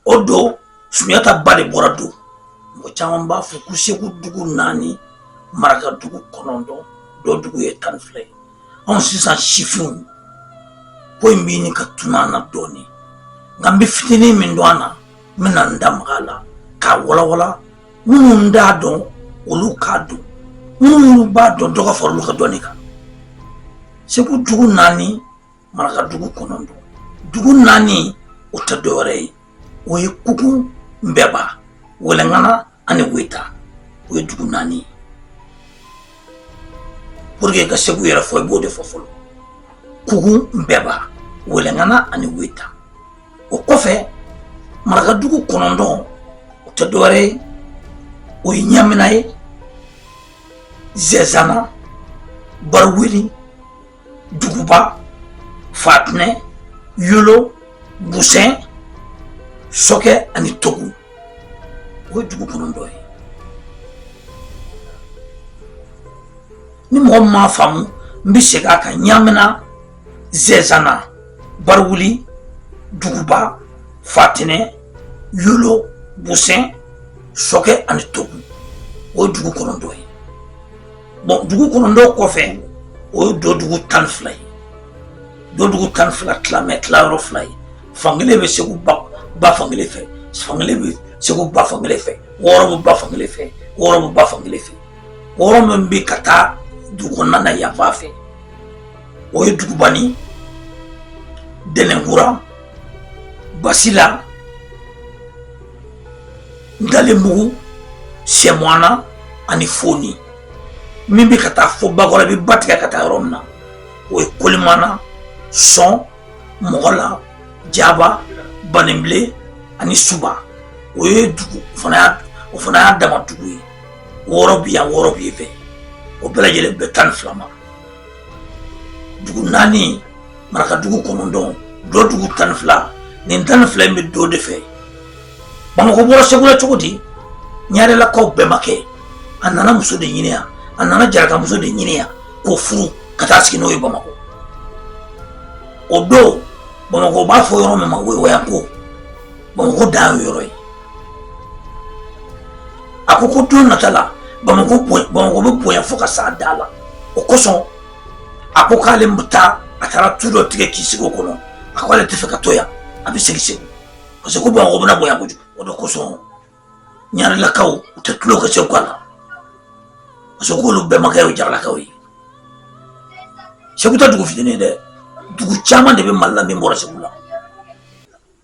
o don sunjata ba de bɔra dɔ mɔgɔ caman b'a fɔ ko segu dugu naani maraka dugu kɔnɔntɔn dɔ dugu ye tan ni fila ye anw sisan sifinw ko in bɛ ɲini ka tunun an na dɔɔnin nka n bɛ fitinin min dɔn a na n bɛna n da maga a la k'a walawala minnu t'a dɔn olu k'a dɔn minnu b'a dɔn dɔ ka fara olu ka dɔnni kan segu dugu naani maraka dugu kɔnɔntɔn dugu naani o tɛ dɔwɛrɛ ye o ye kuku nbɛba wɛlɛngana ani weta o ye dugu naani ye pour que ka segu yɛrɛ fɔ i b'o de fɔ fɔlɔ kuku nbɛba wɛlɛngana ani weta o kɔfɛ maraka dugu kɔnɔntɔn o tɛ dɔwɛrɛ ye o ye ɲamina ye zɛzana bariweli duguba fatinɛ yolo busɛn sɔkɛ ani togu o ye dugu kɔnɔntɔn ye ni mɔgɔ min m'a faamu n bɛ segin a kan ɲamina zɛzana bariwuli duguba fatinɛ yolo busɛn sɔkɛ ani togu o ye dugu kɔnɔntɔn ye bon dugu kɔnɔntɔn kɔfɛ o ye dɔ dugu tan ni fila ye dɔ dugu tan ni fila tilalen bɛ tilayɔrɔ fila ye fankelen bɛ segu ba fankelen fɛ fankelen bɛ segu ba fankelen fɛ wɔɔrɔ bɛ ba fankelen fɛ wɔɔrɔ bɛ ba fankelen fɛ wɔɔrɔ min bɛ ka taa dugu kɔnɔna na yan fan fɛ o ye dugubani dɛnɛnkura basila Ntalenbugu sɛmɔana ani foni min bɛ ka taa fɔ bakɔ la bɛ ba tigɛ ka taa yɔrɔ min na o ye kolimana sɔn mɔgɔla jaba banenbilen ani suba o ye dugu o fana y'a dama dugu ye wɔɔrɔ bɛ yan wɔɔrɔ bɛ yen fɛ o bɛɛ lajɛlen bɛ tan ni fila ma dugu naani marakadugu kɔnɔntɔn dɔ dugu tan ni fila nin tan ni fila in bɛ dɔ de fɛ bamakɔ bɔra segu la cogo di ɲarelakaw bɛmakɛ a nana muso de ɲini yan a nana jarakamuso de ɲini yan k'o furu ka taa sigi n'o ye bamakɔ o don bamakɔ b'a fɔ yɔrɔ min ma woyowayanko bamakɔ dan y'o yɔrɔ ye a ko ko don nata la bamakɔ bɛ bonya fo ka s'a da la o kosɔn a ko k'ale bɛ taa a taara tu dɔ tigɛ k'i sigi o kɔnɔ a ko ale tɛ fɛ ka to yan a bɛ segin segu parce que ko bamakɔ bɛna bonya kojugu o de kosɔn ɲarelakaw u tɛ tulon kɛ segukaw la parce que k'olu bɛmakɛ y'o jaralakaw ye segu tɛ dugu fitinin ye dɛ dugu caman de bɛ mali la min bɔra segu la